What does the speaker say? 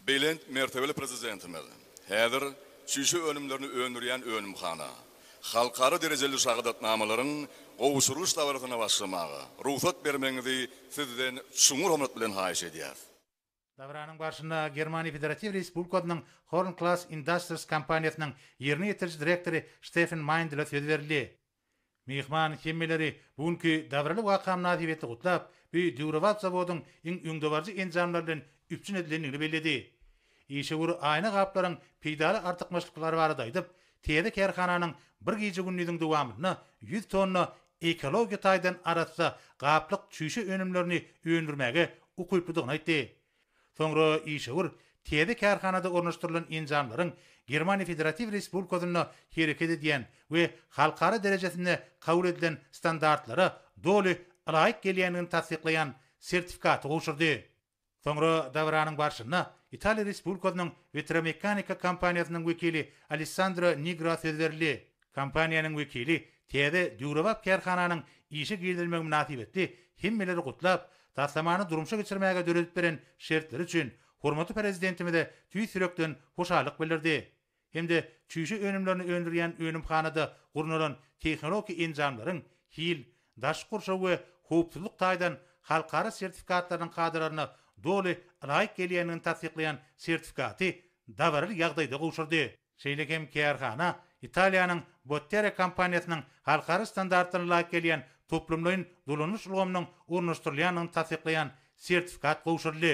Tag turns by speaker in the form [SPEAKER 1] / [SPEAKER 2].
[SPEAKER 1] Belent mertebeli Prezidentimiz häzir çüýşe önümlerini öndürýän önümhana, halkara derejeli şahadatnamalaryň gowşurylyş dabarasyna başlamaga rugsat bermegiňizi Sizden çuňňur hormat bilen haýyş edýäris. Dabaranyň
[SPEAKER 2] barşynda Germaniýa Federatiw Respublikasynyň Horn Class Industries kompaniýasynyň ýerine ýetiriji direktory Şteffen Maýndle söz berildi. Myhman hemmeleri bu günki dabaraly waka mynasybetli gutlap, bu döwrebap zawodyň iň öňdebaryjy enjamlar bilen üpjün edilendigini belledi. Işewür aýna gaplaryň peýdaly artykmaçlyklary barada aýdyp, täze kärhananyň bir gije-gündiziň dowamynda ýüz tonna ekologiýa taýdan arassa gaplyk çüýşe önümlerini öndürmäge ukyplydygyny aýtdy. Soňra işewür täze kärhanada ornaşdyrylan enjamlaryň Germaniýa Federatiw Respublikasynda hereket edýän we halkara derejesinde kabul edilen standartlara doly ylaýyk gelýändigini tassyklaýan sertifikaty gowşurdy. Soňra dabaranyň barşynda Italiýa Respublikasynyň Vetromeccanico kompaniýasynyň wekili Alessandro Nigra söz berildi. Kompaniýanyň wekili täze döwrebap kärhananyň işe girizilmegi mynasybetli hemmeleri gutlap, taslamany durmuşa geçirmäge döredip beren şertleri üçin hormatly Prezidentimize tüýs ýürekden hoşallyk bildirdi hem-de çüýşe önümlerini öndürýän önümhanada gurnalan tehnologiki enjamlaryň hil, daşky gurşaw we howpsuzlyk taýdan halkara sertifikatlarynyň kadalaryna doly laýyk gelýändigini tassyklaýan sertifikaty dabaraly ýagdaýda gowşurdy. Şeýle hem kärhana Italiýanyň Bottere kompaniýasynyň halkara standartlaryna laýyk gelýän toplumlaýyn dolanyş ulgamynyň ornaşdyrylýandygyny tassyklaýan sertifikat gowşuryldy.